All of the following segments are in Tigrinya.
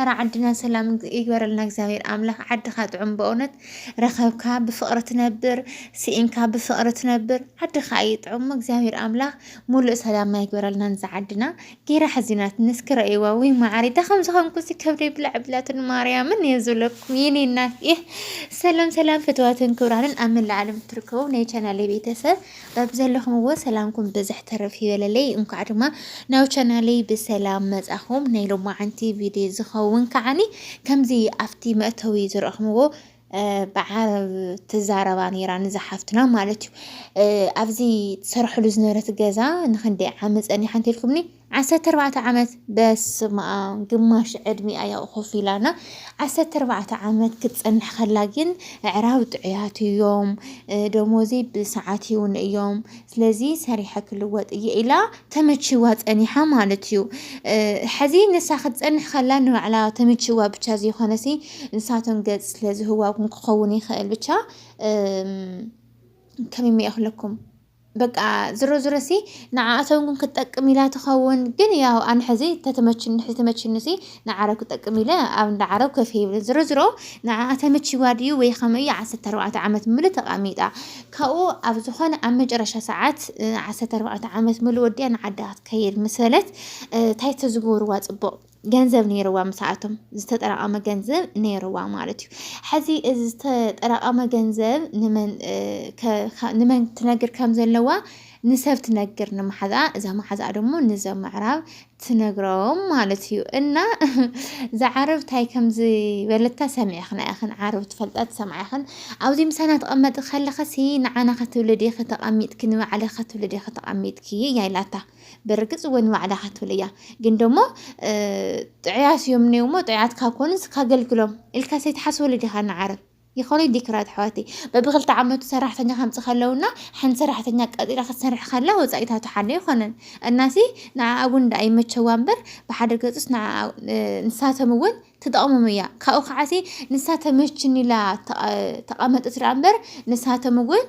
ኣረ ዓድና ሰላም ይግበረልና እግዚኣብሔር ኣምላክ ዓድካ ጥዑም በእውነት ረከብካ ብፍቅሪ ትነብር ስኢንካ ብፍቅሪ ትነብር ዓድካ እዩ ጥዑም እግዚኣብሔር ኣምላክ ሙሉእ ሰላምና ይግበረልና ንዛ ዓድና ጌራ ሕዚናትኒ እስኪ ረእይዋ ወይ ማዓሪ እታ ከም ዝኮንኩ ሲ ከብደይ ብላዕ ብላትን ማርያምን እየ ዝብለኩም የኔ እናት ሰላም ሰላም ፍትዋትን ክብራንን ኣብ መላእ ዓለም እትርከቡ ናይ ቻናል ቤተሰብ በብዘለኹምዎ ሰላምኩም ብዝሕ ትርፍ ይበለለይ እንኳዕ ድማ ናብ ቻናለይ ብሰላም መጻኹም ናይ ሎማዓንቲ ቪድዮ ዝኸውን ከዓኒ ከምዚ ኣብቲ መእተዊ ዝረእኹምዎ ብዓረብ ትዛረባ ነይራ ንዛ ሓፍትና ማለት እዩ ኣብዚ ትሰርሕሉ ዝነበረት ገዛ ንክንደይ ዓመት ጸኒሓ እንተልኩምኒ ዓሰርተ ኣርባዕተ ዓመት በስመኣም ግማሽ ዕድሚኣ እያ ኮፍ ኢላና ዓሰርተ ኣርባዕተ ዓመት ክትፀንሕ ከላ ግን ኣዕራብ ጥዑያት እዮም ደሞዘይ ብሰዓት ይውን እዮም ስለዚ ሰሪሐ ክልወጥ እየ ኢላ ተመችዋ ፀኒሓ ማለት እዩ ሕዚ ንሳ ክትፀንሕ ከላ ንባዕላ ተመችዋ ብቻ ዘይኮነሲ ንሳቶም ገፅ ስለ ዝህዋ እውን ክኸውን ይኽእል ብቻ ከመይ እየ ክብለኩም በቃ ዝሮ ዝሮ ሲ ንዓኣቶም ግን ክትጠቅም ኢላ ትኸውን ግን ያው ኣነ ሕዚ ተተመችኒ ሕዚ ተመችኒ ሲ ንዓረብ ክጠቅም ኢለ ኣብ እንዳ ዓረብ ከፍ ይብል ዝሮ ዝሮ ንዓኣ ተመችዋ ድዩ ወይ ከመይ እዩ ዓሰርተ ኣርባዕተ ዓመት ምሉ ተቓሚጣ ካብኡ ኣብ ዝኾነ ኣብ መጨረሻ ሰዓት ዓሰርተ ኣርባዕተ ዓመት ምሉ ወዲኣ ንዓዳ ክትከይድ ምስ በለት እንታይ ተዝገብርዋ ጽቡቕ ገንዘብ ነይርዋ ምስኣቶም ዝተጠራቐመ ገንዘብ ነይርዋ ማለት እዩ። ሕዚ እዚ ዝተጠራቐመ ገንዘብ ንመን ትነግር ከም ዘለዋ ንሰብ ትነግር ንመሓዝኣ፣ እዛ መሓዝኣ ደሞ ንዘ ምዕራብ ትነግሮም ማለት እዩ። እና እዛ ዓረብ እንታይ ከም ዝበለታ ሰሚዕኽና ኢኽን፣ ዓረብ ትፈልጣ ትሰምዓ ኢኽን። ኣብዚ ምሳና ትቐመጢ ከለኽሲ ንዓና ከትብሊ ዲኺ ተቐሚጥኪ፣ ንባዕልኺ ከትብሊ ዲኺ ተቐሚጥኪ እያ ኢላታ። ብርግጽ እወ ንባዕዳኻ ትብል እያ ግን ደሞ ጥዑያት እዮም እኔው እሞ ጥዑያት ካብ ኮኑስ ካገልግሎም ኢልካ ሰይትሓስበሉ ዲኻ ንዓረብ ይኸውነይ ዲክራት ኣሕዋተይ በብክልተ ዓመቱ ሰራሕተኛ ከምፅ ከለውና ሓንቲ ሰራሕተኛ ቀጢራ ክትሰርሕ ከላ ወፃኢታቱ ሓደ ኣይኮነን እናሲ ንዓኣ እውን እንዳ ኣይመቸዋ እምበር ብሓደ ገፁስ ንዓ ንሳቶም እውን ትጠቕሞም እያ ካብኡ ከዓሲ ንሳ ተመችኒ ኢላ ተቐመጠት ድኣ እምበር ንሳቶም እውን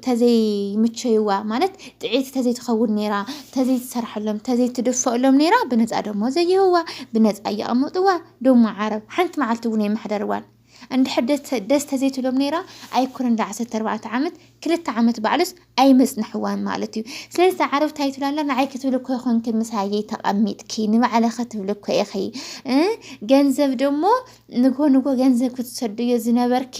ተዘይምቸይዋ ማለት ጥዕይቲ ተዘይትኸውን ኔራ ተዘይትሰርሐሎም ተዘይትድፈኣሎም ኔራ ብነፃ ዶሞ ዘይህብዋ ብነፃ እየቀመጥዋ ዶሞ ዓረብ ሓንቲ መዓልቲ እውን ኣይመሓደርዋን እንድሕር ደስ ተዘይትብሎም ኔራ ኣይኮነን እንዳ ዓሰርተ ኣርባዕተ ዓመት ክልተ ዓመት ባዕሉስ ኣይመፅንሕዋን ማለት እዩ ስለዚ እዛ ዓረብ እንታይ ትብላ ኣላ ንዓይ ክትብሊ እኮ ይኮንኪ ምሳየይ ተቀሚጥኪ ንባዕለ ክትብሊ እኮ ኢኺ እ ገንዘብ ዶሞ ንጎ ንጎ ገንዘብ ክትሰድዮ ዝነበርኪ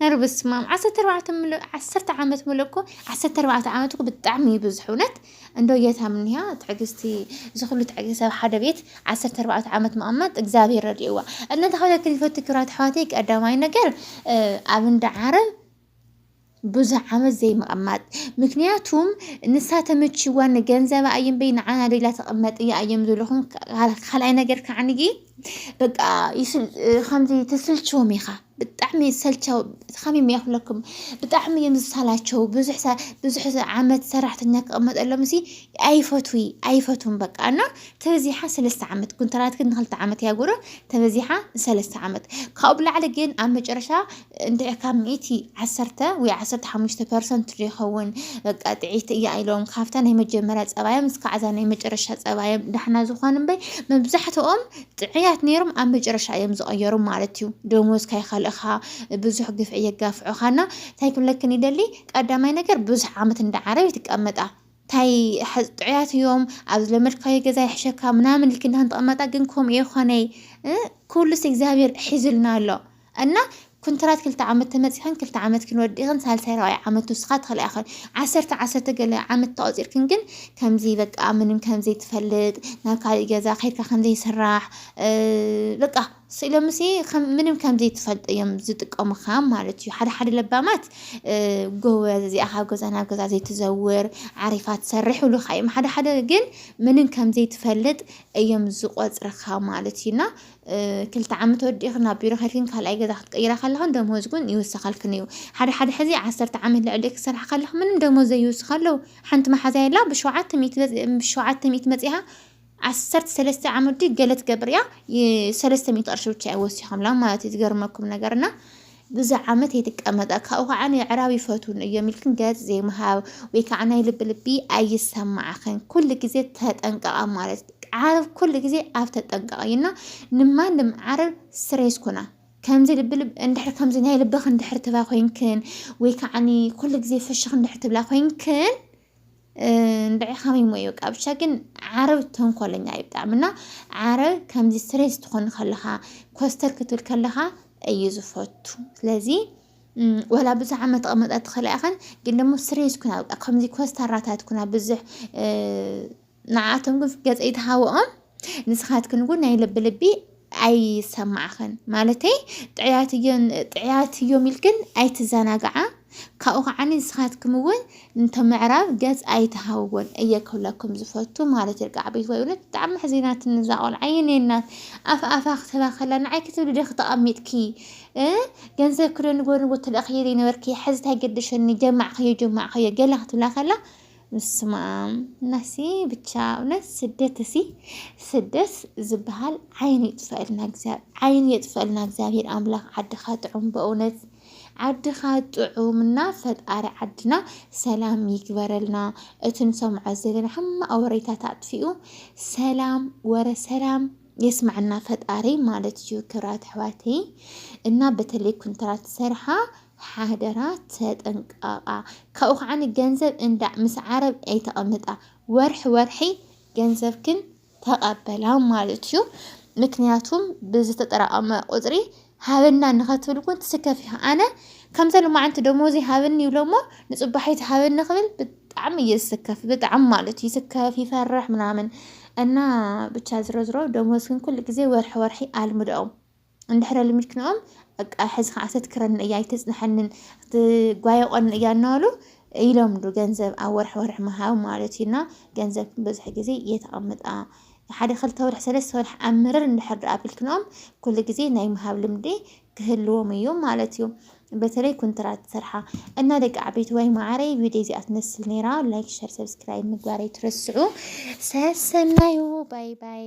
እር በስማም ዓሰርተ ኣርባዕተ ምሉእ ዓሰርተ ዓመት ምሉእ እኮ ዓሰርተ ኣርባዕተ ዓመት እኮ ብጣዕሚ እዩ ብዙሕ እውነት እንዶ ጌታ ምንያ ትዕግስቲ እዚ ኩሉ ትዕግስቲ ኣብ ሓደ ቤት ዓሰርተ ኣርባዕተ ዓመት መቐመጥ እግዚኣብሔር ረድእዋ እና እንታይ ክብለኪ ዝፈቱ ክብራት ኣሕዋተይ ቀዳማይ ነገር እ፣ ኣብ እንዳ ዓረብ ብዙሕ ዓመት ዘይምቕማጥ ምክንያቱም ንሳ ተመችዋ ንገንዘባ እየምበይ ንዓና ደላ ተቐመጥ እያ እዮም ዝብልኹም ካልኣይ ነገር ከዓንጊ በቃ ከምዚ ተስልችዎም ኢኻ ብጣዕሚ ሰልቻው ከመይ እየ ክብለኩም ብጣዕሚ እዮም ዝሰላቸው ብዙሕ ብዙሕ ዓመት ሰራሕተኛ ክቕመጠሎም ሲ ኣይፈትዊ ኣይፈትውን በቃ እና ተበዚሓ ሰለስተ ዓመት ኩንትራት ግን ንክልተ ዓመት እያ ጉሮ ተበዚሓ ሰለስተ ዓመት ካብኡ ብላዕሊ ግን ኣብ መጨረሻ እንድዒ ካብ ሚእቲ ዓሰርተ ወይ ዓሰርተ ሓሙሽተ ፐርሰንት ዶ ይኸውን በቃ ጥዕይቲ እያ ኢሎም ካብታ ናይ መጀመርያ ጸባዮም እስካዕ እዛ ናይ መጨረሻ ጸባዮም ዳሕና ዝኾኑ እምበይ መብዛሕትኦም ጥዕያት ነይሮም ኣብ መጨረሻ እዮም ዝቐየሩ ማለት እዩ። ደሞዝ ካይኸልእኻ ብዙሕ ግፍዒ የጋፍዑኻና እንታይ ክብለክን ይደሊ ቀዳማይ ነገር ብዙሕ ዓመት እንዳ ዓረብ ይትቀመጣ ታይ ጥዑያት እዮም ኣብ ዝለመድካዮ ገዛ ይሕሸካ ምናምን ልክና ክንተቐመጣ ግን ከምኡ የኾነይ ኩሉስ እግዚኣብሔር ሒዙልና ኣሎ እና ኩንትራት ክልተ ዓመት ተመጺኽን ክልተ ዓመትክን ወዲእኽን ሳልሳይ ራብዓይ ዓመት ትውስኻ ትኽእላ ኢኽን ዓሰርተ ዓሰርተ ገለ ዓመት ተቆጺርክን ግን ከምዚ በቃ ምንም ከምዘይ ትፈልጥ ናብ ካልእ ገዛ ከይድካ ከምዘይ ስራሕ በቃ ስኢሎምሲ ምንም ከምዘይ ትፈልጥ እዮም ዝጥቀሙኻ ማለት እዩ ሓደ ሓደ ለባማት ጎበዝ እዚኣ ካብ ገዛ ናብ ገዛ ዘይትዘውር ዓሪፋ ትሰርሕ ይብሉኻ እዮም ሓደ ሓደ ግን ምንም ከምዘይ ትፈልጥ እዮም ዝቆጽርኻ ማለት እዩና ክልተ ዓመት ወዲእኺ ናብ ቢሮ ከይድክን ካልኣይ ገዛ ክትቅይራ ከለኽን ደሞዝ እውን ይውሰኸልክን እዩ ሓደ ሓደ ሕዚ ዓሰርተ ዓመት ልዕሊ ክሰርሓ ከለኽ ምንም ደሞዝ ዘይውስኽ ኣለዉ ሓንቲ መሓዛ የላ ብሸውዓተ ሚእቲ ብሸውዓተ ሚእቲ መፂኻ ዓሰርተ ሰለስተ ዓመት ገለ ትገብር እያ ሰለስተ ሚእቲ ቅርሺ ብቻ እዮም ወሲኾምላ ማለት እዩ ዝገርመኩም ነገርና ብዙሕ ዓመት ኣይትቀመጣ ካብኡ ከዓ ንኣዕራብ ይፈትዉኒ እዮም ኢልክን ገፅ ዘይምሃብ ወይ ከዓ ናይ ልቢ ልቢ ኣይሰማዕኽን ኩሉ ግዜ ተጠንቀቃ ማለት ዓረብ ኩሉ ግዜ ኣብ ተጠንቀቅ እዩ እና ንማንም ዓረብ ስሬስ ኩና ከምዚ ልቢ ልቢ እንድሕር ከምዚ ናይ ልብኽ እንድሕር ትባ ኮይንክን ወይ ከዓኒ ኩሉ ግዜ ፍሽኽ እንድሕር ትብላ ኮይንክን እንድዒ ከመይ እሞ እዩ በቃ ብቻ ግን ዓረብ ተንኮለኛ እዩ ብጣዕሚ እና ዓረብ ከምዚ ስትሬስ ትኾን ከለኻ ኮስተር ክትብል ከለኻ እዩ ዝፈቱ ስለዚ እም፣ ወላ ብዙሕ ዓመት ተቐመጣ ትኽእላ ኢኸን ግን ደሞ ስትሬስ ኩና በቃ ከምዚ ኮስታራታት ኩና ብዙሕ እ፣ ንዓኣቶም ግን ገጽ ኣይትሃብኦም ንስኻትክን እውን ናይ ልቢ ልቢ ኣይሰማዕኽን ማለተይ ጥዕያት እዮን ጥዕያት እዮም ኢልክን ኣይትዘናግዓ ካብኡ ከዓ ንስኻትኩም እውን እንተ ምዕራብ ገጽ ኣይትሃውዎን እየ ክብለኩም ዝፈቱ ማለት ይርጋዕ ቤት ወይ እውነት ብጣዕሚ ሕዚናትኒ እዛ ቆልዓ የኔ እናት ኣፍ ኣፋ ክትህባ ከላ ንዓይ ክትብሊ ዶ ተቐሚጥኪ ገንዘብ ክዶ ንጎ ንጎ ትልእኽየለይ ነበርኪ ሕዚ እንታይ ገደሸኒ ጀማዕኸዮ ጀማዕኸዮ ገለ ክትብላ ከላ ብስመኣም ናሲ ብቻ እውነት ስደት እሲ ስደት ዝበሃል ዓይን ይጥፈእልና ዓይን የጥፈእልና እግዚኣብሔር ኣምላክ ዓድኻ ጥዑም በእውነት ዓድኻ ጥዑምና ፈጣሪ ዓድና ሰላም ይግበረልና። እቲ ንሰምዖ ዘለና ሕማቕ ወሬታት ኣጥፊኡ ሰላም ወረ ሰላም የስማዕና ፈጣሪ ማለት እዩ። ክብራት ኣሕዋተይ እና በተለይ ኩንትራት ሰርሓ ሓደራ ተጠንቀቓ ካብኡ ከዓኒ ገንዘብ እንዳ ምስ ዓረብ ኣይተቐምጣ ወርሒ ወርሒ ገንዘብክን ተቐበላ ማለት እዩ ምክንያቱም ብዝተጠራቐመ ቁፅሪ ሃበና ንኸትብል እውን ትስከፍ እዩ ኣነ ከምዘ ልማዓንቲ ደሞዚ ሃበኒ ይብሎ እሞ ንፅባሒት ሃበኒ ክብል ብጣዕሚ እየ ዝስከፍ ብጣዕሚ ማለት እዩ ስከፍ ይፈርሕ ምናምን እና ብቻ ዝሮ ዝሮ ደሞዝክን ኩሉ ግዜ ወርሒ ወርሒ ኣልምደኦም እንድሕር ኣልሚድክንኦም በቃ ሕዚ ከዓ ተትክረኒ እያ ኣይተፅንሐንን ትጓየቆኒ እያ እናበሉ ይለምዱ ገንዘብ ኣብ ወርሒ ወርሒ ምሃብ ማለት እዩ እና ገንዘብ ብዙሕ ግዜ የተቐምጣ ሓደ ክልተ ወርሒ ሰለስተ ወርሒ ኣብ ምርር እንድሕር ዶ ኣቢልክንኦም ኩሉ ግዜ ናይ ምሃብ ልምዲ ክህልዎም እዩ ማለት እዩ በተለይ ኩንትራት ስርሓ እና ደቂ ዓበይቲ ወይ ማዕረይ ቪድዮ እዚኣ ትመስል ነይራ ላይክ ሸር ሰብስክራይብ ምግባር ኣይትረስዑ ሰሰናዩ ባይ ባይ